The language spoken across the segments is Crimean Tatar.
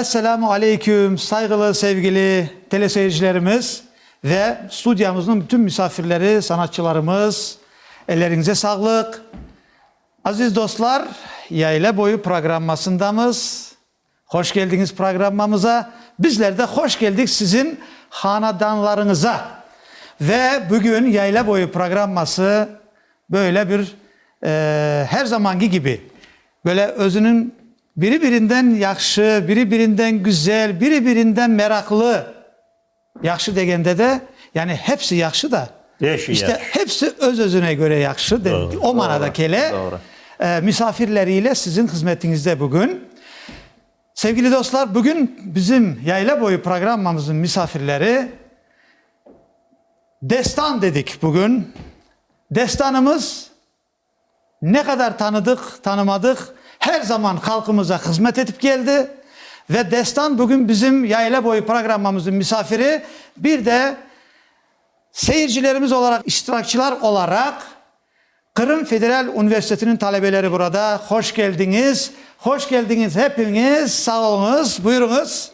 Esselamu aleyküm, sayğılı, sevgili teleseyircilerimiz ve studiyamıznıñ bütün misafirleri, sanatçılarımız, elleriñize sağlıq. Aziz dostlar, Yayla boyu programmasındamız. Hoş geldiñiz programmamıza. Bizler de hoş geldik siziñ hanadanlarıñıza. Ve bugün Yayla boyu programması böyle bir, eee, her zamanki kibi, böyle özüniñ Biri-birinden yahşı, biri-birinden güzel, biri-birinden meraqlı. Yahşı degende de, yani hepsi yahşı da, işte hepsi öz-özüne köre yahşı, o manada kele. Misafirleri ile sizin hızmetiñizde bugün. Sevgili dostlar, bugün bizim Yayla boyu programmamızın misafirleri, destan dedik bugün. Destanımız Ne qadar tanıdıq, tanımadıq, her zaman halqımıza hızmet etip keldi. Ve Destan bugün bizim Yayla boyu programmamıznıñ misafiri, bir de seyircilerimiz olaraq, iştirakçılar olaraq Qırım federal universitetiniñ talebeleri burada. Hoş keldiñiz. Hoş keldiñiz hepiñiz, sağ oluñız, buyuruñız.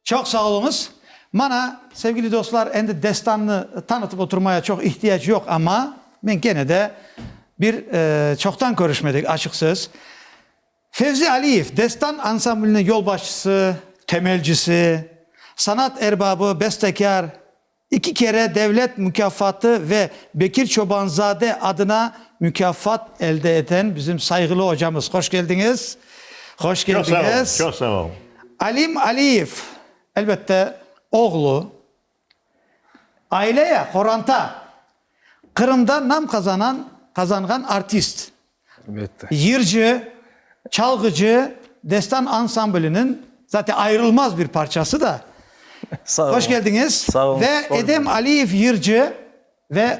Çoq sağ oluñız. Mana, sevgili dostlar, endi destannı tanıtıp oturmaya çoq ihtiyac yoq, amma men kene de bir çoqtan körüşmedik, açıq söz. Fevzi Aliyev destan ansambliniñ yolbaşçısı, temelcisi, sanat erbabı, bestekâr, iki kere devlet mukâfatı ve Bekir Çobanzade adına mukâfat elde eten bizim sayğılı ocamız. Hoş keldiñiz. Hoş keldiñiz. Çoq sağ ol, çoq sağ ol. Alim Aliyev, elbette, oğlu, Aileye, qoranta, Qırımda nam qazanan, qazanğan artist, yırcı, çalğıcı, destan ansambliniñ, zaten ayırılmaz bir parçası da. Hoş keldiñiz. Sağ olun. Ve Edem Aliyev yırcı ve.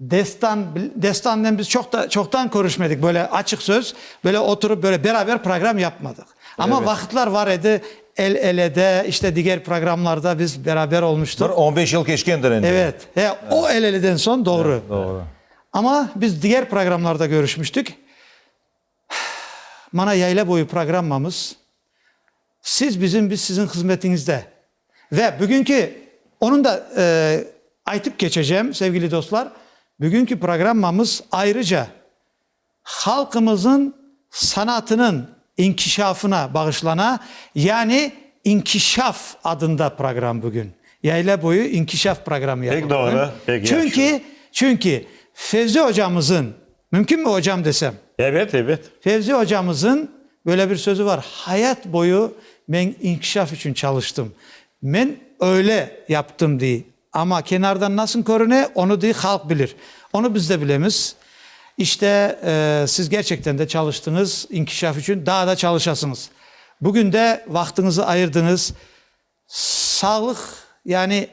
Destan, Destan'nen biz çoq da, çoqtan körüşmedik, böyle açıq söz, böyle oturıp, böyle beraber program yapmadıq. Amma Evet. vaqıtlar var edi, el-elede, işte diger programlarda biz beraber olmuştuq. Bir on beş yıl keçkendir endi. Evet, e, o el-eleden soñ, doğru. Doğru. Amma biz diger programlarda körüşmiştik. Mana yayla boyu programmamız. Siz bizim, biz siziñ hızmetiñizde. Ve bugünki, onıñ da aytıp keçecem, sevgili dostlar, bugünki programmamız ayrıca halqımızıñ sanatınıñ inkişafına bağışlana, yani inkişaf adında program bugün. Yayla boyu inkişaf programı yapıldı bugün. Pek doğru, pek yahşı. Çünki, çünki Fevzi ocamızıñ. Mümkünmi ocam desem? Ebet, ebet. Fevzi ocamızın böyle bir sözü var, Hayat boyu men inkişaf içün çalıştım. Men öyle yaptım dey. Amma kenardan nasıl körüne, onı dey halq bilir. Onı biz de bilemiz. İşte, siz gerçekten de çalıştıñız, inkişaf içün daa da çalışasıñız. Bugün de vaqtıñızı ayırdıñız. Sağlıq, yani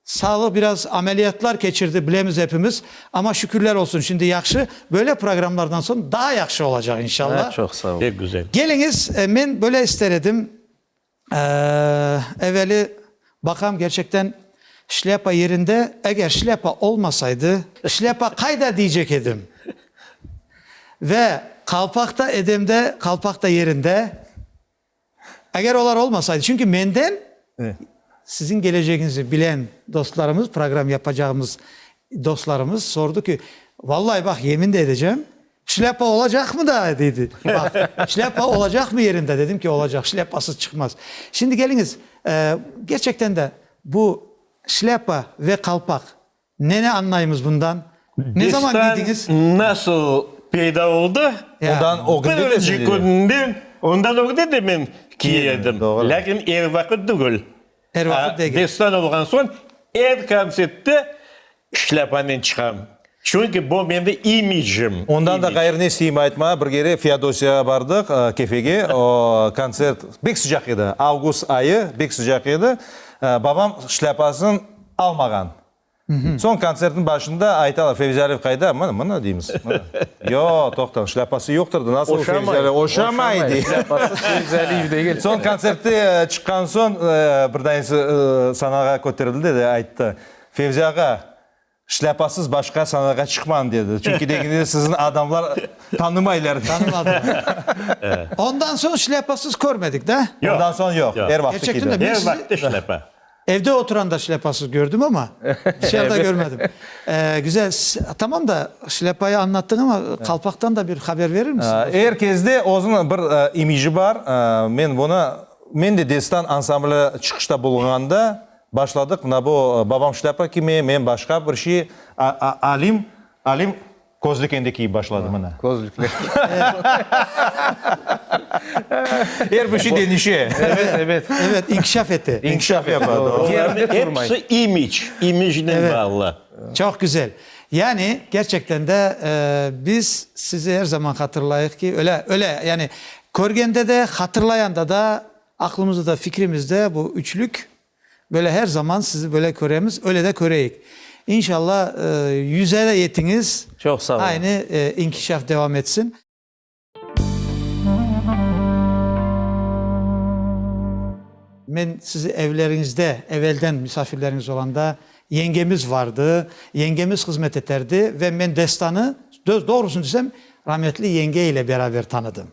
Sağlığı biraz ameliyatlar keçirdi, bilemiz epimiz, ama şükürler olsun, şimdi yahşı, böyle programlardan soñ daa yahşı olacaq inşallah. Çoq sağ ol. Pek güzel. Keliñiz, men böyle ister edim, eveli baqam gerçekten şlâpa yerinde, eger şlâpa olmasaydı, şlâpa qayda diyecek edim, ve qalpaq da edemde, qalpaq da yerinde. Eger olar olmasaydı, çünki menden Siziñ gelecegiñizni bilen dostlarımız, program yapacağımız dostlarımız sordı ki, Vallay, baq, yemin de edecem, şlâpa olacaqmı da? dedi. Baq, şlâpa olacaqmı yerinde? Dedim ki, olacaq, şlâpasız çıqmaz. Şimdi keliñiz, gerçekten de bu şlâpa ve qalpaq Neni añlaymız bundan? Ne zaman Destan kiydiñiz? nasıl peyda oldı? Ya. Ondan o künde de Birinci sizde de. kününden, ondan ögde de men kiy Kiy edim, edim. doğru. Lâkin er vaqıt tügül. Er A, vaqıt degil. Destan olğan soñ er kontsertte şlâpanen çıqam. Çünki bu mende imicim. Ondan da imicim. ğayrını isteyim aytma. Bir kere Feodosiyaya bardıq, ı, Kefege. O, kontsert bek sıcaq edi. Avgust ayı, bek sıcaq edi. Aa, babam şlâpasın. almağan. Soñ kontsertniñ başında aytalar, Fevzi Aliyev qayda? Mına, mına deymiz. Yoq, toqtañ, şlâpası yoqtır da, nasıl Fevzi Aliyev? Oşamay, dey. Şlâpasız Fevzi Aliyev degil. Soñ kontsertte çıqqan soñ bir daisi sanağa köterildi de ayttı, Fevzi ağa, şlâpasız başqa sanağa çıqmañ, dedi. Çünki deginizde sizni adamlar tanımaylar. Tanımadılar. Ondan soñ şlâpasız körmedik da? Ondan soñ yoq, er vaqtı kiydi. Her vaqıtta şlâpa. Evde oturan da şlâpasız kördim ama, dışarıda körmedim. Güzel, tamam da, şlâpayı añlattıñ ama, qalpaqtan da bir haber verir misin? Er kezde özüniñ bir imiji bar. Men bunı, men de Destan ansambli çıqışta bulunğanda başladıq, mına bu, babam şlâpa kimi, men başqa bir şey, Alim, Alim. Közlük endi kiyip başladı mına. Közlükler. Er bir şey denişe. Evet, evet. Evet, inkişaf ete. İnkişaf yapadı. Hepsi imic, imicnen bağlı. Çoq güzel. Yani, kerçekten de biz sizi er zaman hatırlayıq ki, öyle, öyle, yani körgende de, hatırlayanda da, aqlımızda da, fikrimizde bu üçlük Böyle her zaman sizi böyle köremiz, öyle de köreyik. İnşallah yüze de yetiñiz. Çoq sağ olun. Aynı inkişaf devam etsin. Men sizi evleriñizde, evelden misafirleriñiz olanda, yengemiz vardı, yengemiz hızmet eterdi ve men Destanı, söz doğrusını desem, rahmetli yenge ile beraber tanıdım.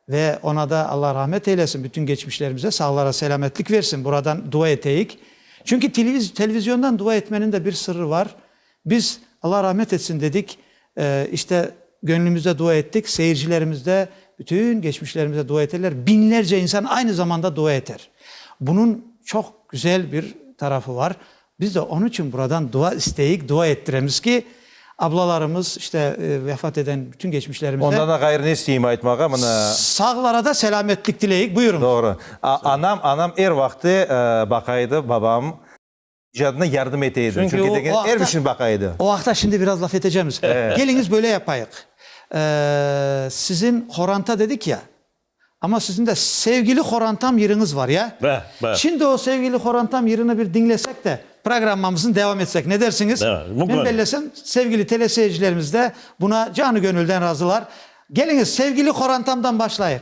Ve ona da Alla rahmet eylesin, bütün geçmişlerimize sağlara selâmetlik versin, buradan dua eteyik. Çünki televizyondan dua etmeniñ de bir sırrı var. Biz Alla rahmet etsin dedik, işte, göñlümizde dua ettik, seyircilerimiz de bütün geçmişlerimize dua eterler, biñlerce insan aynı zamanda dua eter. Bunıñ çoq güzel bir tarafı var. Biz de onıñ içün buradan dua isteyik, dua ettiremiz ki, ablalarımız, işte, vefat eden bütün geçmişlerimize. Ondan da ğayrı ne isteyim aytmağa, mına. Sağlara da selâmetlik tileyik. Buyurıñız. Doğru. Anam, anam er vaqtı baqa edi, babam icadına yardım ete edi. Çünki o vaqta. Er bir şeyni baqa edi. O vaqta şimdi biraz laf etecemiz. Keliñiz böyle yapayıq. Sizin qoranta dedik ya, Amma siziñ de sevgili Xorantam yırıñız var, ya? Bar, bar. Şimdi o sevgili Xorantam yırını bir diñlesek de, programmamıznı devam etsek, ne dersiñiz? Bar, mümkün. Men bellesem, sevgili teleseyircilerimiz de buna canı-göñülden razılar. Keliñiz, sevgili Xorantamdan başlayıq.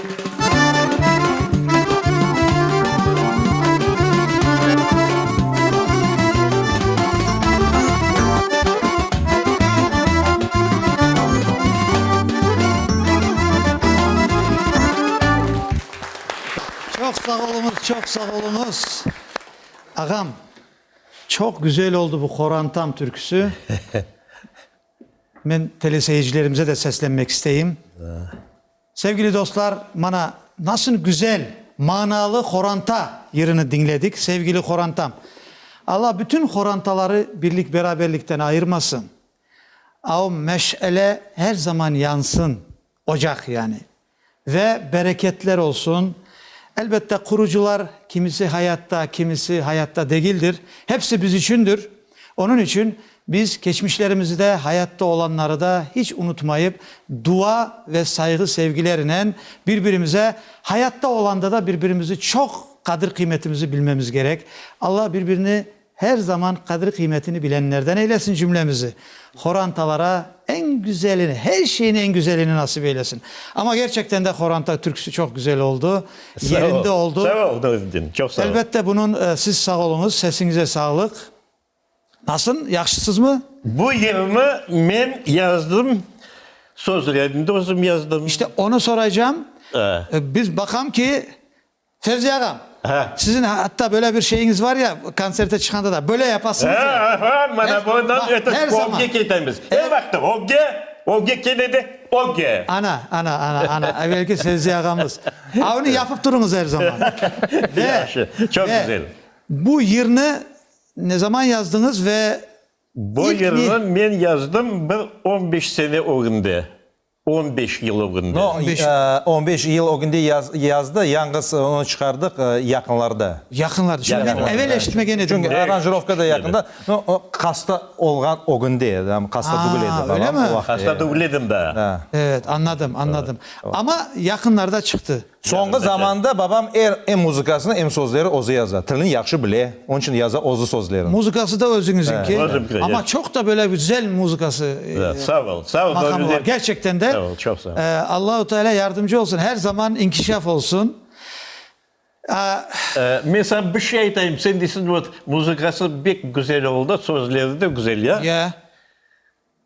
Çoq sağ oluñız, çoq sağ oluñız. Ağam, çoq güzel oldı bu qorantam türküsü. Men teleseyircilerimize de seslenmek isteyim. Sevgili dostlar, mana, nasıl güzel, manalı qoranta yırını diñledik, sevgili qorantam. Alla bütün qorantaları birlik-beraberlikten ayırmasın. Avm, meş'ele her zaman yansın, ocaq yani. Ve bereketler olsun. Elbette, qurucılar, kimisi hayatta, kimisi hayatta degildir, hepsi biz içündir. Onıñ içün biz keçmişlerimizde hayatta olanları da hiç unutmayıp, dua ve sayğı-sevgilerinen bir-birimize, hayatta olanda da bir-birimizi çoq qadir-qıymetimizi bilmemiz gerek. Alla bir-birini her zaman qadir-qıymetini bilenlerden eylesin cümlemizi. Horantalara eñ güzelini, her şeyni eñ güzelini nasip eylesin. Amma gerçekten de Horanta türküsi çoq güzel oldu, yerinde oldu. Sağ ol, Nuriddin, çoq sağ ol. Elbette bunun, siz sağ oluñız, sesiñize sağlıq. Nasıl, yahşısızmı? Bu yırnı men yazdım, sözlerini de özüm yazdım. İşte, onı soraycam. Biz baqam ki, Fevzi ağam, Hâ. siziñ hatta böyle bir şeyiñiz var ya, kontserte çıqanda da, böyle yapasıñız ya. Hâ, hâ, hâ, mana bu, Hâ, bax, eto, her zaman. ögge ketemiz. Her Er- vaqıt ögge, ögge keledi, ögge. Ana, ana, ana, ana, evelki Fevzi ağamız. Avni yapıp turıñız her zaman. Ve, Yahşı, çoq ve güzel. bu yırnı ne zaman yazdıñız ve Bu ilk ne- yırnı men yazdım bir on beş sene ögünde. On beş yıl ögünde. On beş yıl ögünde yazdı, yañğız onı çıqardıq yaqınlarda. Yaqınlarda, çünki men evel eşitmegen edim. Çünki aranjirovka da yaqında. Hasta olğan ögünde, hasta degil edi. Öylemi? Hasta degil edim daa. Evet, añladım, añladım. Amma yaqınlarda çıqtı. Soñki zamanda babam er em muzıkasını, em sözleri özü yaza. Tilini yahşı bile, onıñ içün yaza özü sözlerini. Muzıkası da özüñizinki. Özümki, ya. Amma çoq da böyle güzel muzıkası, maqamı bar. Gerçekten de, Allahu Teala yardımcı olsun, her zaman inkişaf olsun. Men saña bir şey aytayım, sen deysıñ, vot, muzıkası bek güzel oldı, sözleri de güzel, ya? Ya.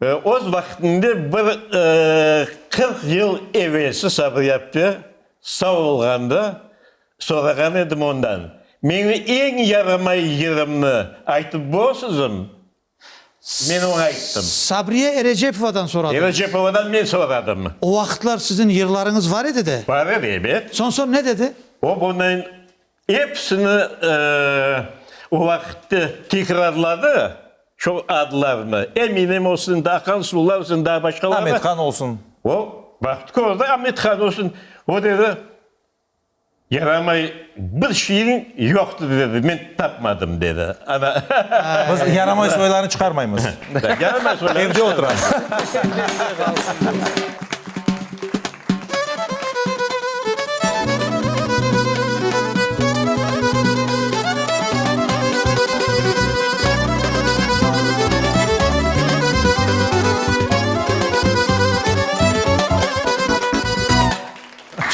Öz vaqtında bir qırq yıl evelsi Sabriyapte sağ olğanda sorağan edim ondan, Meñi eñ yaramay yerimni aytıp borsızım? Men oña ayttım. Sabriye Erejepovadan soradım. Erejepovadan men soradım. O vaqıtlar siziñ yırlarıñız var edi de? Bar edi, ebet. Soñ, soñ ne dedi? O bunıñ Episini o vaqitte tikrarladı, şu adlarnı, eminim o sizin daa Hansular sizin daa başqalar. Amet Han olsun. O vaqıt kördi, Amet Han olsun. O dedi, yaramay bir şeyiñ yoqtı dedi, men tapmadım dedi. Ana. Biz yaramay soylarnı çıqarmaymız. Yaramay soylarnı çıqarmaymız. Evde oturasız.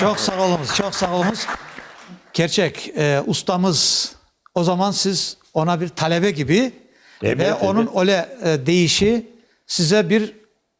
Çoq sağ oluñız, çoq sağ oluñız. Kerçek, ustamız, o zaman siz ona bir talebe kibi ve onıñ öyle deyişi size bir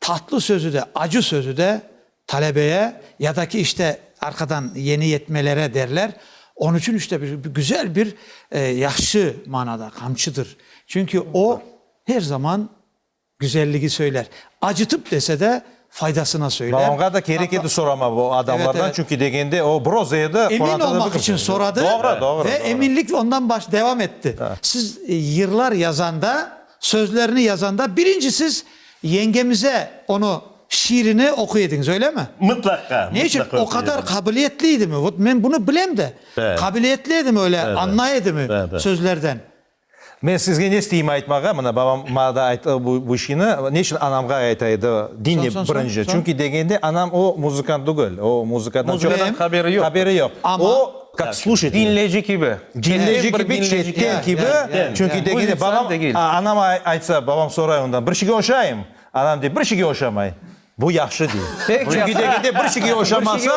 Tatlı sözü de, acı sözü de talebeye ya da ki işte arqadan yeni yetmelere derler. Onı için işte güzel bir yahşı manada qamçıdır. Çünki o her zaman güzelligi söyler. Acıtıp dese de faydasına söyler. Babamğa da kerek edi sorama bu adamlardan, çünki degende o broza edi. Emin olmaq için soradı ve eminlik ondan devam etti. Siz yırlar yazanda, sözlerini yazanda birinci siz Yengemize onı şiirini oquy ediñiz, öylemi? Mıtlaqa, mıtlaqa. Ne içün? O qadar qabiliyetli edimi? Vot men bunı bilem de, qabiliyetli edimi öyle, añlay edimi sözlerden? Men sizge ne isteyim aytmağa, mına, babam maña da ayttı bu şiini, ne içün anamğa ayta edi, diñle birinci, çünki degende anam o muzıkant tügel, o muzıkadan çoq haberi yoq. Haberi yoq. Kak sluşayt? Dinleyici kibi. Dinleyici kibi, çetten kibi, çünki degende babam, anam aytsa, babam soray ondan, bir şege oşayım? Anam dey, bir şege oşamay. Bu yahşı dey. Çünki degende bir şege oşamasa,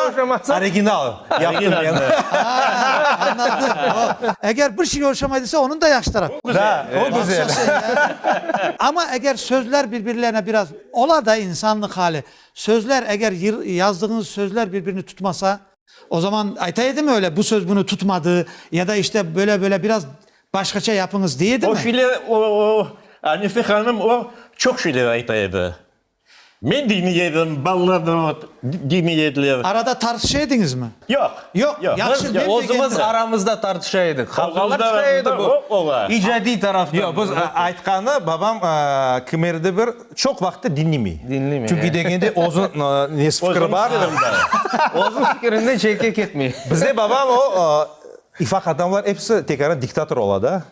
original yaptım men. Eger bir şege oşamay dese, onıñ da yahşı tarafı. Da, o güzel. Amma eger sözler bir-birlerine biraz, ola da insanlıq hali, sözler eger yazdığıñız sözler bir-birini tutmasa, O zaman ayta edimi öyle, bu söz bunı tutmadı, ya da işte böyle-böyle biraz başqaça yapıñız dey edimi? O şeyler, o, o, Anise hanım o çoq şeyler ayta edi. Men demey edim, balalar da o demey ediler. Arada tartışa ediñizmi? Yoq. Yoq, yahşı, men degendim. Özümiz aramızda tartışa edik. Qavğalar çıqa edi bu. Özümiz aramızda, o, ola. İcadiy taraftan. Yoq, biz aytqanı, babam kimerde bir. Çoq vaqıtta diñlemey. Diñlemey. Çünki degende özü nesi, fikri bar. Özüniñ fikri bar. Özüniñ fikrinden çetke ketmey. Bizde babam o, ifaq adamlar episi tek ara diktator ola da.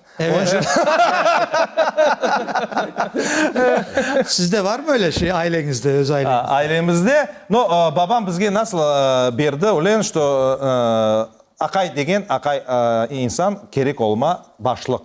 Sizde barmı öyle şey, aileñizde, öz aileñizde? Ailemizde, no, babam bizge nasıl berdi, öyle, şto, aqay degen, aqay insan, kerek olma, başlıq.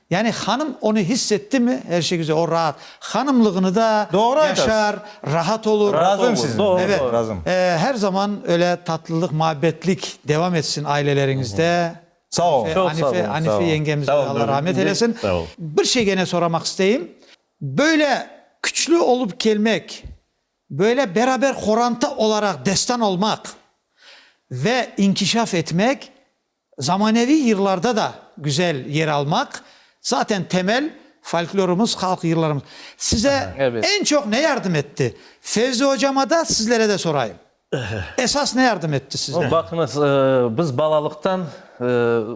Yani hanım onı hiss ettimi? Her şey güzel, o raat. Hanımlığını da yaşar, raat olur. Razım sizinle. Evet. Razım. Her zaman öyle tatlılıq, muhabbetlik devam etsin aileleriñizde. Sağ olun. Çok sağ olun. Anife yengemize de Allah rahmet eylesin. Sağ olun. Bir şey gene soramaq isteyim. Böyle küçlü olup kelmek, böyle beraber qoranta olaraq destan olmaq ve inkişaf etmek Zamaneviy yırlarda da güzel yer almaq, zaten temel folklorımız, halq yırlarımız. Size eñ çoq ne yardım etti? Fevzi ocama da, sizlere de sorayım. Esas ne yardım etti sizlere? Baqıñız, biz balalıqtan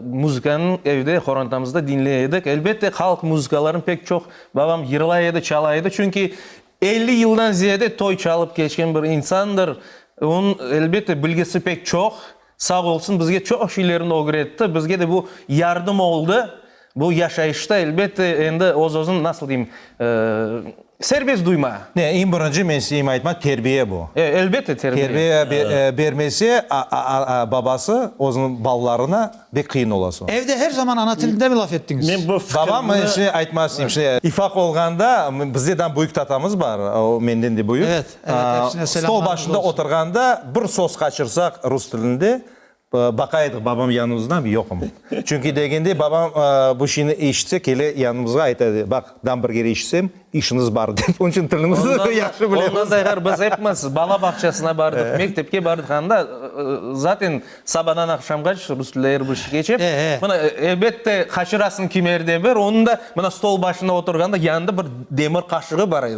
muzıkanı evde, qorantamızda diñley edik. Elbette, halq muzıkalarını pek çoq babam yırlay edi, çala edi. Çünki elli yıldan ziyade toy çalıp keçken bir insandır. Onıñ, elbette, bilgisi pek çoq. Sağ olsun, bizge çoq şeylerni ögretti, bizge de bu yardım oldı. Bu yaşayışta, elbette, endi öz-özün, nasıl deyim, serbest duyma. Ne, eñ birinci men isteyim aytmaq, terbiye bu. E, elbette, terbiye. Terbiye bermese, babası özüniñ balalarına bek qıyın ola soñ. Evde her zaman ana tilinde mi laf ettiñiz? Men bu fikirni. Babam, aytmaq isteyim, ifaq olğanda, bizde dam büyük tatamız bar, o menden de büyük. Evet. Stol başında oturğanda bir söz qaçırsaq rus tilinde, baqa edik, babam yanımızda mı, yoqmı? Çünki degende babam bu şeyni eşitse, kele yanımızğa ayta edi, baq, gamburger eşitsem, işiñiz bar, dep. Onıñ içün tilimizni yahşı bilemiz. Ondan da eğer biz epimiz bala bağçasına bardıq, mektepke bardıq, anda zaten sabadan aqşamğaç rus tilinde er bir şey keçe. Mına, elbette, qaçırasıñ kimerde bir, onıñ da mına stol başında oturğanda yanında bir demir qaşığı bar edi.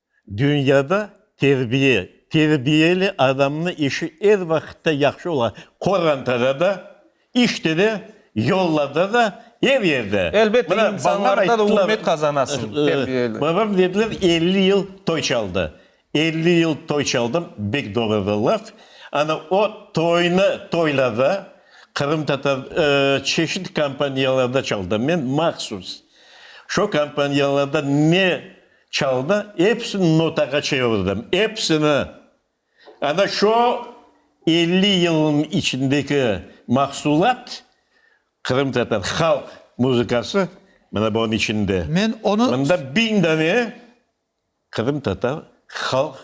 Dünyada terbiye, terbiyeli adamnıñ işi er vaqıtta yahşı ola, qorantada da, işte de, yollarda da, er yerde. Elbette, insanlarda da ürmet qazanasıñ, terbiyeli. Babam dediler, elli yıl toy çaldı. Elli yıl toy çaldım, bek doğru bir laf. Ana o toynı, toylarda qırımtatar çeşit kompaniyalarda çaldım men mahsus. Şu kompaniyalarda ne Çaldı, epsini notağa çevirdim, epsini! Ana şo elli yılnıñ içindeki mahsulat, qırımtatar halq muzıkası, mına bunıñ içinde. Men onı. Mında biñ dane qırımtatar halq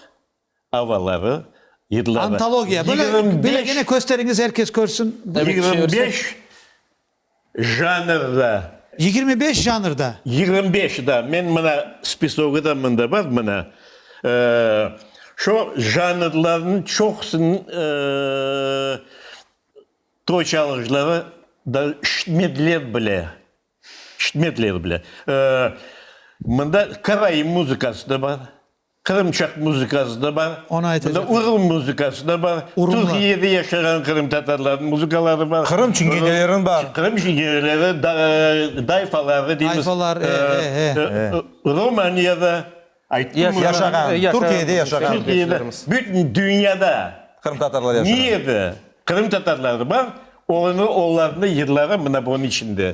Avaları, yırları, Antologiya, böyle, yigirmi böyle beş, gene kösteriñiz, er kes körsün. Tabii ki yigirmi çevirsek. beş janrda, Yigirmi beş janrda. yigirmi beş, da, men mına spisogı da mında bar, mına, e, şu janrlarnıñ çoqusınıñ, e, toy çalğıcları da ştmedler bile, ştmedler bile. E, mında karaim muzıkası da bar. Qırımçaq muzıkası da bar, bunda urul muzıkası da bar, Türkiyede yaşağan qırımtatarlarnıñ muzıkaları bar. Qırım çingeneleriniñ bar. Qırım çingeneleri, dayfaları deymiz, Romaniyada, Türkiyede yaşağan, Türkiyede, bütün dünyada niyede qırımtatarları bar, olarnıñ yırları mına bunıñ içinde.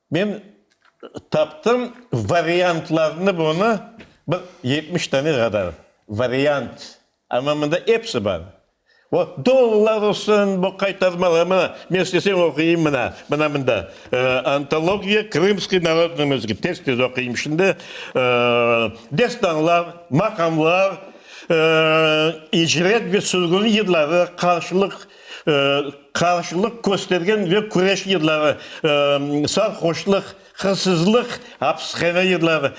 Men taptım variantlarnı bunı, bir yetmiş tane qadar variant, amma mında episi bar. O dollar olsun, bu qaytarmalar, mına, men isteseñ oquyım, mına, mına mında, Antologiya krımskıy narodnıy muzıkası, tez-tez oquyım şimdi, destanlar, maqamlar, icret ve sürgün yılları, qarşılıq, qarşılıq köstergen ve küreş yılları, sarhoşlıq, hırsızlıq, apishane yılları,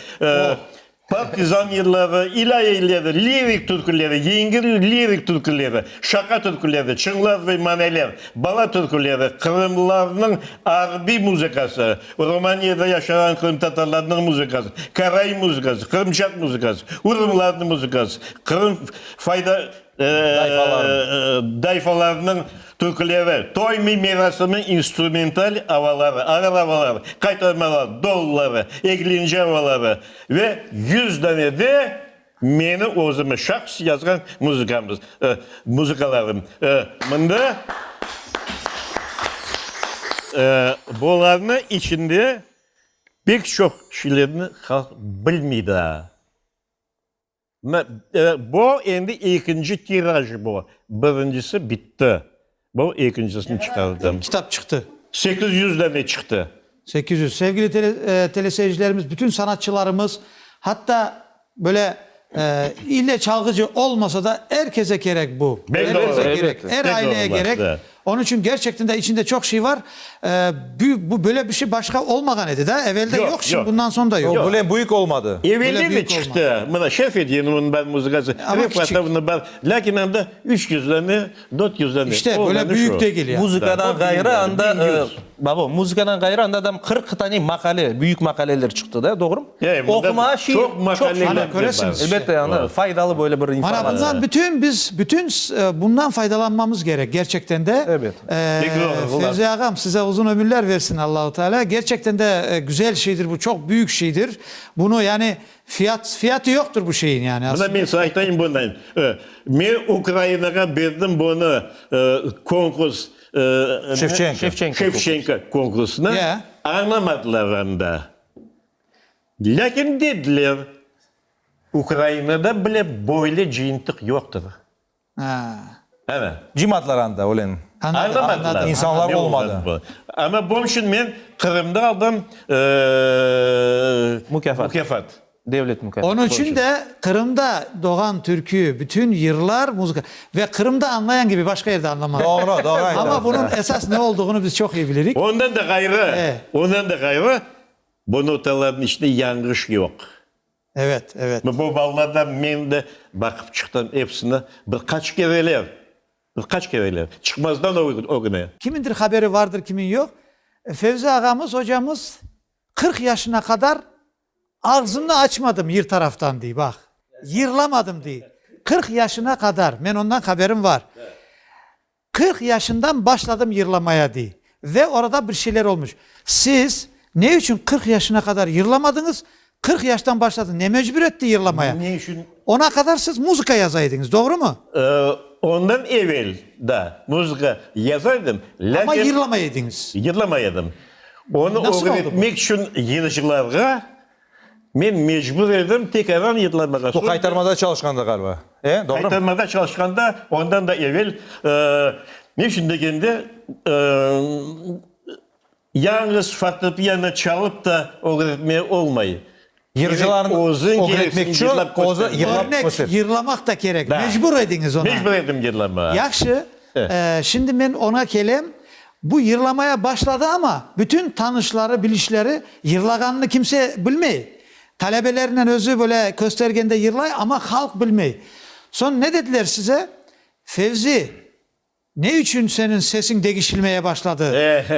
partizan yılları, ilâye yılları, lirik türküleri, yengil lirik türküleri, şaqa türküleri, çıñlar ve maneler, bala türküleri, qırımlılarnıñ arbiy muzıkası, Rumaniyede yaşağan qırımtatarlarnıñ muzıkası, karaim muzıkası, qırımçaq muzıkası, urumlarnıñ muzıkası, Qırım fayda dayfalarnıñ türküleri, toy merasimi instrumental avaları, ağır avalar, qaytarmalar, dolları, eglinci avaları ve yüz dane de meni özümi şahs yazğan muzıkamız, muzıkalarım. Mında bularnı içinde pek çoq şeylerni halq bilmey daa. Bu endi ekinci tiraj bu. Birincisi bitti. Bu ekincisini çıqardım. Kitap çıqtı. Sekiz yüz dane çıqtı. Sekiz yüz. Sevgili teleseyircilerimiz, bütün sanatçılarımız, hatta böyle ille çalğıcı olmasa da, er kese kerek bu. Er kese kerek. Er aileye kerek. Onıñ içün gerçekten de içinde çoq şey var. Bu böyle bir şey başqa olmağan edi da, evel de yoq, şimdi bundan soñ da yoq. Böyle büyük olmadı. Evelden de çıqtı, mına şef ediydi onıñ bar muzıkası, Refatovnıñ bar, lâkin anda üç yüz dane, dört yüz dane. İşte böyle büyük degil yani. Muzıkadan ğayrı anda Babo, muzıkadan ğayrı anda da qırq tane maqale, büyük maqaleler çıqtı da, doğrumı? Oqumağa şiir çoq maqale. Ana, köresiñiz. Elbette, ana, faydalı böyle bir informatsiya. Mana bundan bütün biz, bütün bundan faydalanmamız gerek, gerçekten de. Elbet. Fevzi ağam, size uzun ömürler versin Allahu Teala. Gerçekten de güzel şeydir bu, çoq büyük şeydir. Bunu yani fiyat, fiyatı yoqtır bu şeyin yani aslında. Mına men size aytayım bundan. Men Ukrainağa berdim bunı, konkurs. Şevçenko. Şevçenko konkursını añlamadılar anda. Lâkin dediler, Ukrainada bile böyle cıyıntıq yoqtır. Ana. Cıymadılar anda öyle. Añlamadılar. İnsanlar olmadı. Amma bunun içün men Qırımda aldım mukâfat. Devlet mükâfat. Onıñ içün de Qırımda doğan türkü bütün yırlar muzıka ve Qırımda añlayan kibi başqa yerde añlamaz. Doğru, doğru aytasız. Amma bunıñ esas ne olduğunı biz çoq iyi bilirik. Ondan da ğayrı, ondan da ğayrı bu notalarnıñ içinde yanğış yoq. Evet, evet. Bu ballarda men de baqıp çıqtım epsini bir qaç kereler, bir qaç kereler çıqmazdan ögüne. Kimindir haberi vardır, kimin yoq. Fevzi ağamız, ocamız qırq yaşına qadar Ağzımnı açmadım yır taraftan, dey, baq, yırlamadım, dey. Qırq yaşına qadar, men ondan haberim var, qırq yaşından başladım yırlamaya, dey. Ve orada bir şeyler olmuş. Siz ne içün qırq yaşına qadar yırlamadıñız, qırq yaştan başladın, ne mecbur etti yırlamaya? Ne içün? Ona qadar siz muzıka yaza ediñiz, doğrumı? Ondan evel, da, muzıka yaza edim, lâkin. Amma yırlamay ediñiz. Yırlamay edim. Onı ögretmek içün yırcılarğa men mecbur edim, tek aran yırlamağa. Bu qaytarmada çalışqanda ğaliba, e? Doğrumı? Qaytarmada çalışqanda, ondan da evel, ne içün degende, yalıñız fortepiano çalıp da ögretme olmay. Yırcılarnı ögretmek içün özü yırlap köster. Yırlamaq da kerek, mecbur ediñiz oña. Mecbur ettim yırlamağa. Yahşı, şimdi men oña kelem. Bu yırlamaya başladı, amma bütün tanışları, bilişleri yırlağanını kimse bilmey. Talebelernen özü böyle köstergende yırlay, amma halq bilmey. Soñ ne dediler size? Fevzi, Ne içün seniñ sesiñ degişilmeye başladı?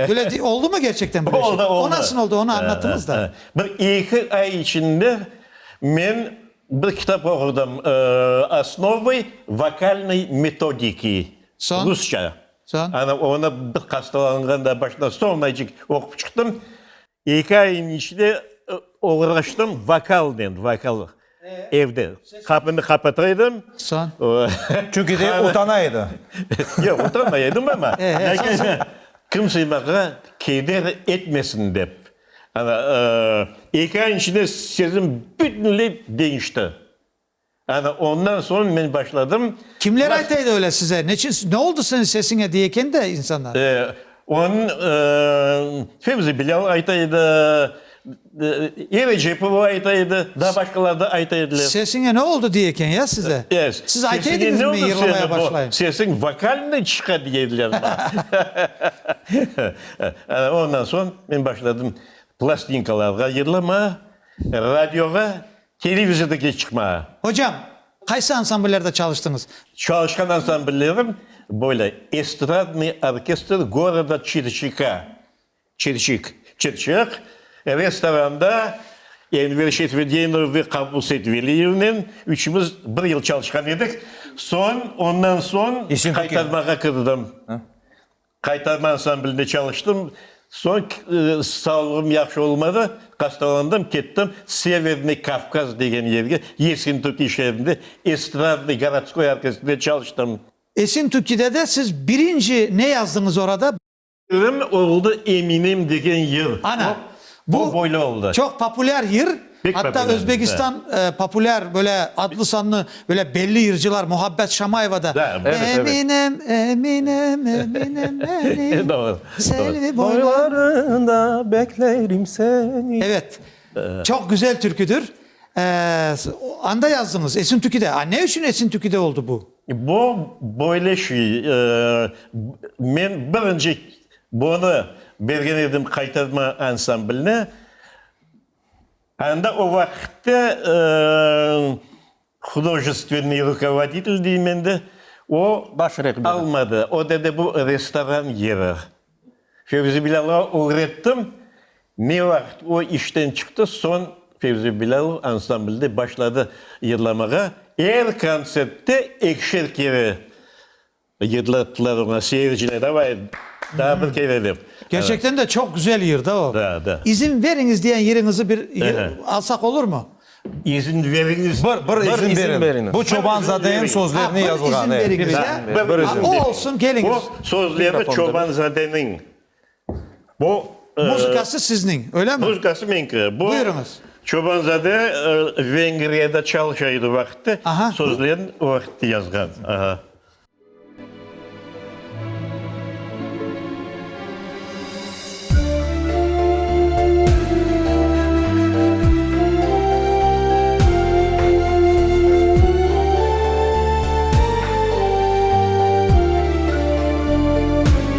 Böyle de oldı mı gerçekten böyle şey? Oldı, oldı. O nasıl oldı, onı anlattınız da. Bir eki ay içinde men bir kitap oqudım, Osnovı vokalnıy metodiki, rusça. Soñ? Onı bir hastalanğanda başına solnaycik oqup çıqtım. Eki ayniñ içinde oğraştım vokalnen, vokal, evde qapını qapata edim. Soñ? Çünki de utana edi. Yoq, utanmay edim, amma kimse maña keder etmesin dep. Eki ayniñ içinde sözüm bütünley deñişti. Ana, ondan soñ men başladım. Kimler ayta edi öyle size? Neçün, ne oldı senin sesiñe diye eken de insanlar. E, onı Fevzi Bilâl ayta edi, Eva Cepova ayta edi, daa başqalar da ayta ediler. Sesiñe ne oldı diye eken ya size? E, Siz ayta sesiñe ediñiz ne mi, oldı yırlamaya senin, bu başlayım? sesiñ vokalnıy çıqa diye ediler maña. Ana, ondan soñ men başladım plastinkalarğa yırlamağa, radioğa Televizordaki çıqma. Hocam, qaysı ansambllerde çalıştıñız? Çalışqan ansamblllerim böyle, Estradnıy orkestr goroda Çirçika, Çirçik, Çırçıq, restoranda Enver Şetvedinov ve Qabul Seytveliyevnen üçümiz bir yıl çalışqan edik. Soñ, ondan soñ qaytarmağa kirdim. Qaytarma ansamblinde çalıştım. Soñ sağlığım yahşı olmadı, hastalandım, kettim Severnıy Kavkaz degen yerge, Yesintükkiy şeerinde estradnıy gorodskoy orkestrde çalıştım. Esintukkide de siz birinci ne yazdıñız orada? Erim oldı Eminem degen yır. Ana, bu çoq populâr yır. Atta Özbegistan populâr böyle adlı-sanlı böyle belli yırcılar Muhabbet Şamayeva da Eminem, Eminem, Eminem meni Selvi boylarında beklerim seni. Evet, çoq güzel türküdür. Anda yazdıñız, Esintükide. A ne içün Esintükide oldı bu? Bu böyle şey, men birinci bunı bergen edim Qaytarma ansamblına. Anda o vaqıtta hudojestvenniy rukovoditelь deyim endi, o almadı. O dedi, bu restoran yeri. Fevzi Bilâlovğa ögrettim. Ne vaqıt o işten çıqtı, soñ Fevzi Bilâlov ansamblde başladı yırlamağa. Er kontsertte ekişer kere Yırdılar tuttılar oña seyircine davay daa bir kere dep. Kerçekten de çoq güzel yır da o. Da, da. İzin veriñiz diyen yırıñızı bir alsaq olurmı? İzin veriñiz. Bir, bir izin veriñiz. Bu Çobanzadenin sözlerine yazılğan. Bir izin veriñiz ya. O olsun keliñiz. O sözleri Çobanzadenin. Bu, e, Muzıkası sizniñ, öyle mi? muzıkası meñki. Bu Buyurıñız. Çobanzade e, Vengriyada çalışa edi vaqıtta, Aha. sözlerini o vaqıtta yazğan. Aha.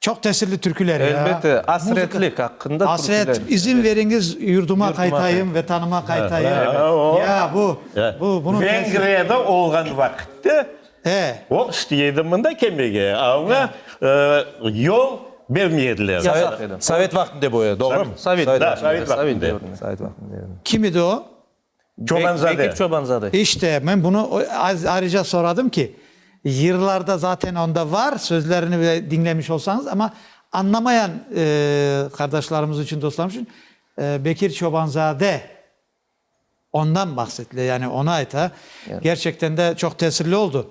Çoq tesirli türküler ya. Elbette, asretlik aqqında türküler. Asret, izin veriñiz yurduma qaytayım, vetanıma qaytayım. Ya bu, bu, bunun tesiri. Vengriyada olğan vaqitte o isteydi mında kelmege, aña yol bermediler. Sovet vaqtında bu, doğrumı? Sovet, da, sovet vaqtında. Kim edi o? Çobanzade. Çobanzade. İşte, men bunı ayrıca soradım ki, yırlarda zaten onda var, sözlerini bile diñlemiş olsañız, amma añlamayan qardaşlarımız içün, dostlarımız içün Bekir Çobanzade ondan bahsetile, yani onı ayta. Gerçekten de çoq tesirli oldu.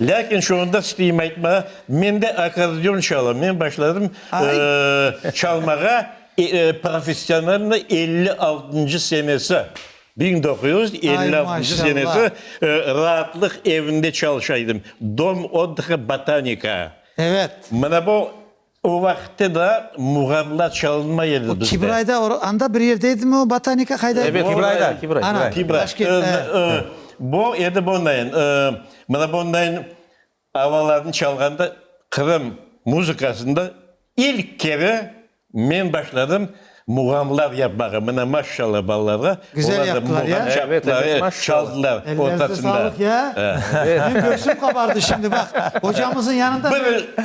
Lâkin şu anda isteyim aytmağa, men de akkordeon çalam. Men başladım çalmağa professionalnıy elli altıncı senesi, biñ doquz yüz elli altıncı senesi Raatlıq evinde çalışa edim, Dom otdıhı Botanika. Mına bu. O vaqıtta da muğamlar çalınmay edi bizde. Kibrayda, anda bir yerde edimi o Botanika, qayda edi? Evet, Kibrayda, Kibray. Ana, Daşkent, e. Bu edi bundayin, mına bundayin avalarnı çalğanda Qırım muzıkasında ilk kere men başladım. Muğamlar yapmağa, mına maşşalla balalarğa. Güzel yaptılar ya. Evet, evet, maşşalla. Ellerinize sağlık ya. Benim göksüm qabardı şimdi bak. Ocamızın yanında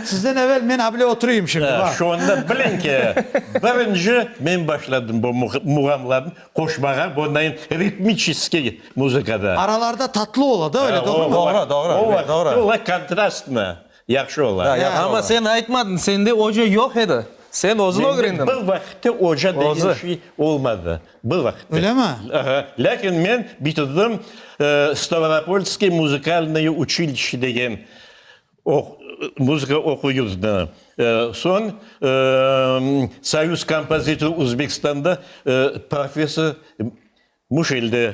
sizden evel men abile oturuyım şimdi bak. Şonda biliñ ki, birinci men başladım bu muğamlarnı qoşmağa, bunayın ritmiçeskiy muzıkada. Aralarda tatlı ola da öyle, doğrumı? Doğru, doğru, doğru. O vaqıt ola kontrastnı. Yahşı ola. Amma sen aytmadıñ, sende oca yoq edi. Sen özün ögrendiñ. Mende bir vaqıtta oca degen şey olmadı. Bir vaqıtta. Öylemi? Aha. Lâkin men bitirdim Stavropolskiy muzikalnıy uçilişe degen muzıka oquv yurdunı. Soñ Soyuz kompozitor Uzbekistanda professor muş elde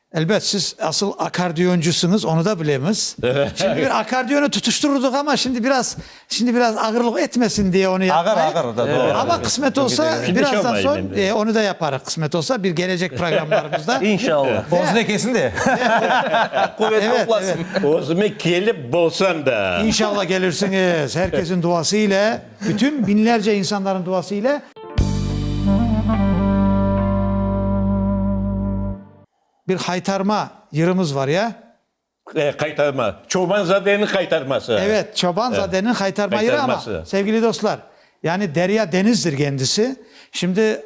Elbet, siz asıl akkordeoncısıñız, onı da bilemiz. Şimdi bir akkordeonı tutuştırırdıq, amma şimdi biraz, şimdi biraz ağırlıq etmesin diye onı yapmayıq. Ağır, ağır, da, doğru. Amma qısmet olsa, birazdan soñ, e, onı da yaparıq, qısmet olsa, bir gelecek programlarımızda. İnşallah. Özüne kelsin de. Quvet toplasın. Özüme kelip bolsam da. İnşallah kelirsiñiz, her kesin duası ile. Bütün biñlerce insanların duası ile. Bir haytarma yırımız var ya. E, qaytarma. Çobanzadeniñ qaytarması. Evet, Çobanzadeniñ qaytarma yırı ama, sevgili dostlar, yani derya denizdir kendisi. Şimdi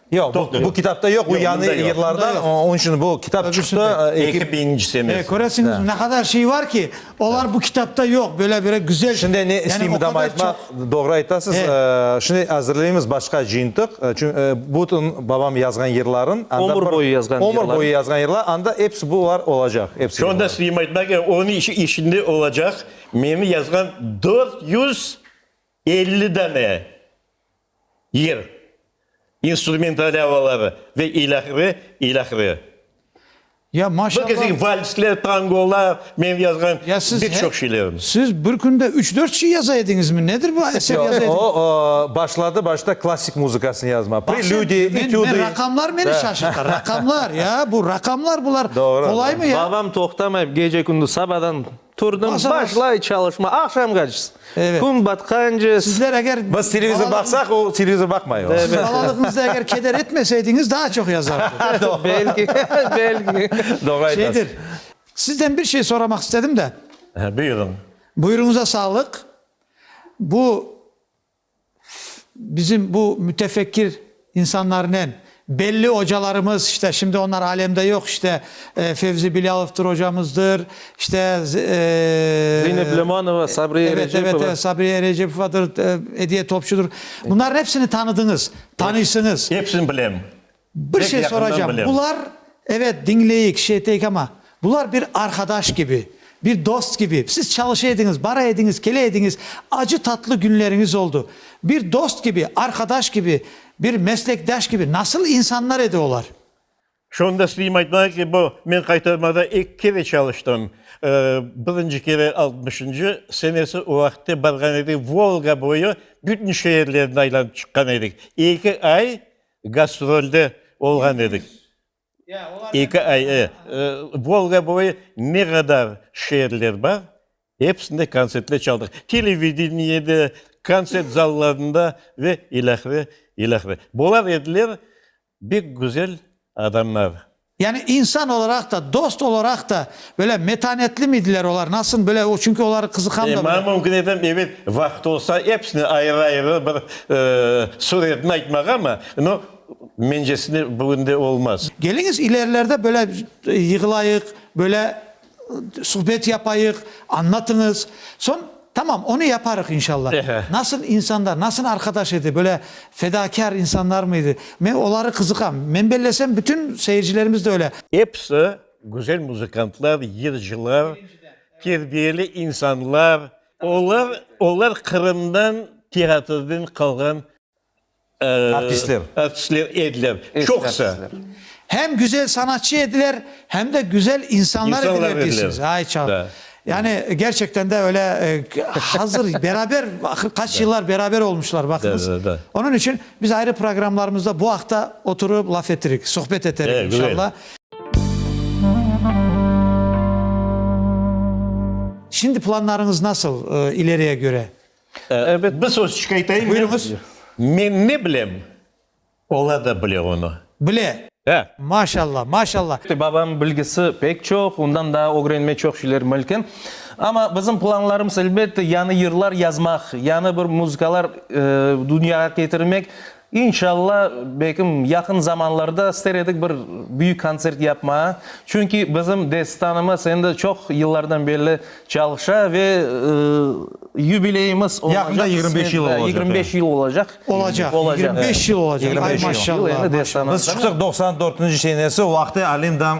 Yoq, bu, bu kitapta yoq, bu yañı yırlarda, onıñ içün bu kitap çıqtı. Eki biñinci semestr. Köresiñiz, ne qadar şey bar ki, olar bu kitapta yoq, böyle bir güzel. Şimdi ne isteyim bundan aytmaq, doğru aytasız, şimdi azırlayımız başqa cıyıntıq, çünki bütün babam yazğan yırlarıñ. Ömür boyu yazğan yırları. Ömür boyu yazğan yırları, anda hepsi bular olacaq. Şunda isteyim aytmaq, onıñ içinde olacaq meni yazğan dört yüz. Elli dane yer, instrumental avalar ve ilâhre, ilâhre. Ya Bir maşallah. keseki valsler, tangolar, menim yazğan Ya siz pek he- çoq şeylerim. Siz bir künde üç-dört şey yaza ediñizmi? Nedir bu eser Yoq, yaza o, ediñ? o, başladı başta klassik muzıkasını yazma. Bak sen, Prelüdiy, men, men etüdiy. raqamlar meni Da. şaşırta. Raqamlar, ya, bu raqamlar bular Doğru, qolaymı, ya? Babam toqtamay gece-kündüz sabadan Turdım, başlay çalışma, aqşamğaçs, kün batqance. Sizler eger. Biz televizor baqsaq, o televizor baqmay. Siz balalığıñızda eger keder etmeseydiñiz, daa çoq yazardı. Belki, belki. Doğru aytasız. Şeydir, sizden bir şey soramaq istedim de. Buyurıñ. Buyruñıza sağlıq. Bu Bizim bu mütefekkir insanlarnen, belli ocalarımız, işte, şimdi onlar alemde yoq, işte, Fevzi Bilâlovtır ocamızdır, işte, Zeynep Lemanova, Sabriye evet, evet, Recepova. evet, Sabriye Recepovadır, Ediye Topçudur. Bunların hepsini tanıdıñız, tanıysıñız. Hepsini bilem. Bir şey soracam, bular, evet, diñleyik, şey eteyik ama, bular bir arqadaş kibi, bir dost kibi, siz çalışa ediñiz, bara ediñiz, kele ediñiz, acı-tatlı künleriñiz oldu. Bir dost kibi, arqadaş kibi, bir meslekdaş kibi, nasıl insanlar edi olar? Şunı da isteyim aytmağa ki, bu, men Qaytarmada ilk kere çalıştım. Birinci kere altmışıncı senesi o vaqıtta barğan edik, Volga boyu bütün şeerlerni aylanıp çıqqan edik. Eki ay Gastrolde olğan edik. Eki ay, e. Volga boyu ne qadar şeerler bar, epsinde kontsertler çaldıq. Televideniye'de, kontsert zallarında ve ilâhre, ilâhre. Bular ediler bek güzel adamlar. Yani insan olaraq da, dost olaraq da böyle metanetlimidiler olar? Nasıl böyle? O, çünki oları qızıqam da. Maña mümkün etem, evel vaqıt olsa, episini ayrı-ayrı bir suretini aytmağa, amma, no, mencesine, bugün de olmaz. Keliñiz, ilerilerde böyle yığılayıq, böyle. Suhbet yapayıq, anlatıñız. Soñ, tamam, onı yaparıq, inşalla. Nasıl insanlar, nasıl arqadaş edi, böyle fedakâr insanlarmı edi? Men oları qızıqam. Men bellesem, bütün seyircilerimiz de öyle. Episi güzel muzıkantlar, yırcılar, terbiyeli insanlar. Olar, olar Qırımdan, teatrden qalğan Artistler. Artistler ediler, çoqusı. Hem güzel sanatçı ediler, hem de güzel insanlar ediler deysiniz. Ay çağ. Yani gerçekten de öyle hazır beraber ahır kaç yıllar beraber olmuşlar bakınız. Onunç içün biz ayrı programlarımızda bu aqta oturıp laf ettirik, sohbet eterik inşallah. Şimdi planlarıñız nasıl ileriye göre? Bir söz çıkaytayım. Buyurıñız. Men ne bilem, ola da bile onı. Bile. Hâ. Maşalla, maşalla. Babam bilgisi pek çoq, ondan daa ögrenme çoq şeyler mülkün. Amma bizim planlarımız, elbette, yañı yırlar yazmaq, yañı bir muzıkalar dünyağa ketirmek. İnşalla, belkim, yaqın zamanlarda ister edik bir büyük kontsert yapmağa, çünki bizim Destanımız endi çoq yıllardan belli çalışa ve yubileyimiz olacaq. Yaqında yigirmi beş yıl olacaq. Yigirmi beş yıl olacaq. Olacaq, yigirmi beş yıl olacaq. Ay, maşallah. Biz çıqsaq doqsan dörtünci senesi, vaqt-ı alim dam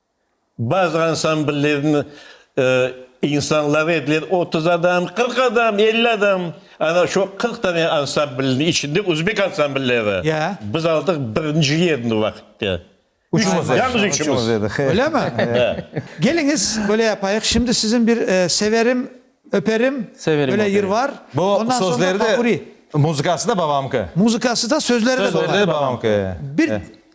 Bazı ansambllerniñ insanları ediler otuz adam, qırq adam, elli adam. Ana şu qırq tane ansamblniñ içinde özbek ansamblleri. Ya. Biz aldıq birinci yerni vaqıtta. Üçümüz. Yalnız üçümüz. Öylemi? Ya. Keliñiz, böyle yapayıq, şimdi siziñ bir Severim, öperim, Severim, böyle yır var. Bu sözleri de, muzıkası da babamki. Muzıkası da, sözleri de babamki. Sözleri de babamki. Bir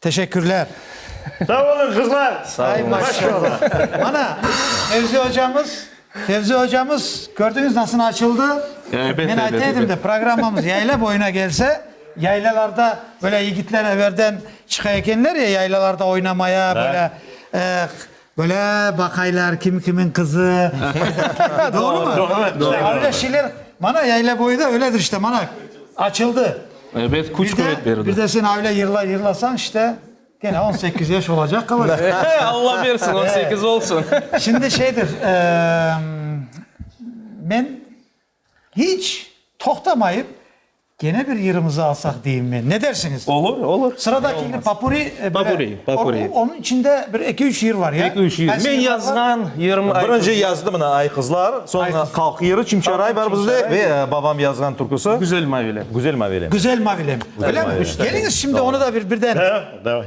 Teşekkürler. Sağ olun qızlar. Sağ olun. Maşallah. Mana Fevzi hocamız, Fevzi hocamız kördüñiz nasıl açıldı. Elbette. Men ayta edim de programmamız yayla boyuna kelse, yaylalarda böyle yigitler eberden çıqa ekenler ya yaylalarda oynamaya böyle Böyle baqaylar, kim kimiñ qızı. Doğrumı? Doğru. Öyle şeyler, mana Yaylaboyda öyledir işte, mana açıldı. Evet, küç küvet berdi. Bir de sen öyle yırlar yırlasañ işte, kene on sekiz yaş olacaq qalacaq. Eee, Alla bersin, on sekiz olsun. Şimdi şeydir, men. İç toqtamayıp, kene bir yırımızı alsaq deyim men. Ne dersiñiz? Olur, olur. Sıradakini popuri, böyle, onıñ içinde bir eki-üç yır var, ya? Eki-üç yır. Men yazğan yırım. Birinci yazdı mına Ay qızlar, soñra Halq yırı, Çimçaray bar bizde ve babam yazğan türküsi. Güzel mavilem. Güzel mavilem. Güzel mavilem. Bilem, keliñiz şimdi onı da bir birden. Hə, davay.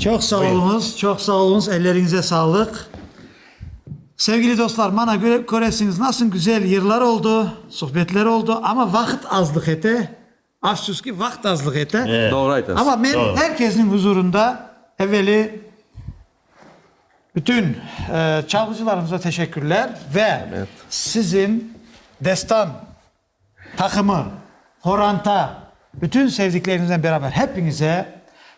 Çoq sağ oluñız, çoq sağ oluñız, elleriñize sağlıq. Sevgili dostlar, mana köresiñiz, nasıl güzel yırlar oldu, suhbetler oldu, amma vaqıt azlıq ete, afsus ki, vaqıt azlıq ete. Doğru aytasız. Amma men er kesniñ huzurında evveli bütün çalğıcılarımıza teşekkürler ve sizin Destan Taqımı, qoranta, bütün sevdikleriniznen beraber hepiñize,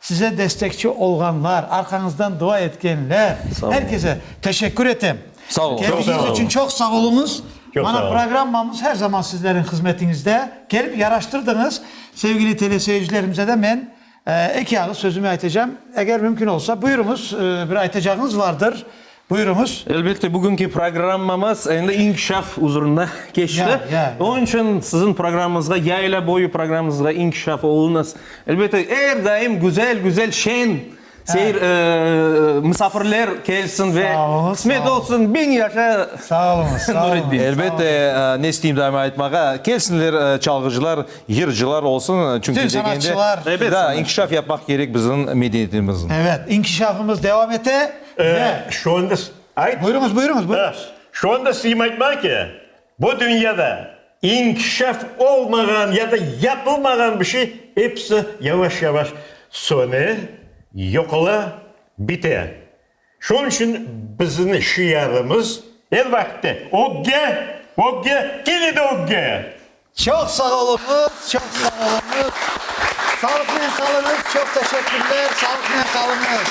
size destekçi olğanlar, arqañızdan dua etkenler, er kese teşekkür etem. Sağ olunız. Kelginiz içün çoq sağ olunız. Mana programmamız her zaman sizleriñ hızmetiñizde. Kelip yaraştırdıñız. Sevgili teleseyircilerimize de men. Eki ağız sözümi aytacağım. Eger mümkün olsa, buyuruñız, bir aytacağıñız vardır, buyuruñız. Elbette, bugünki programmamız endi inkişaf uzrunda keçti. Onıñ içün siziñ programmamızğa, Yayla boyu programmamızğa inkişaf oluñız. Elbette, er daim güzel-güzel, şeñ seyir, misafirler kelsin ve qısmet olsun, biñ yaşa Nuretdin! Elbette, ne isteyim daima aytmağa, kelsinler çalğıcılar. Yırcılar olsun, çünki degende. Tüm sanatçılar. Ebet sanatçılar. Da, inkişaf yapmaq kerek bizim medeniyetimizin. Evet, inkişafımız devam ete ve. Şu anda. Ayt. Buyurıñız, buyurıñız, buyurıñız. Şu anda sizim aytmaq ki, bu dünyada inkişaf olmağan ya da yapılmağan bir şey episi yavaş-yavaş söne, yoqola, bite. Şunıñ içün bizniñ şiarımız, er vaqıtta, Ögge! Ögge! Kene de ögge! Çoq sağ oluñız, çoq sağ oluñız! Sağlıqnen qalıñız, çoq teşekkürler, sağlıqnen qalıñız!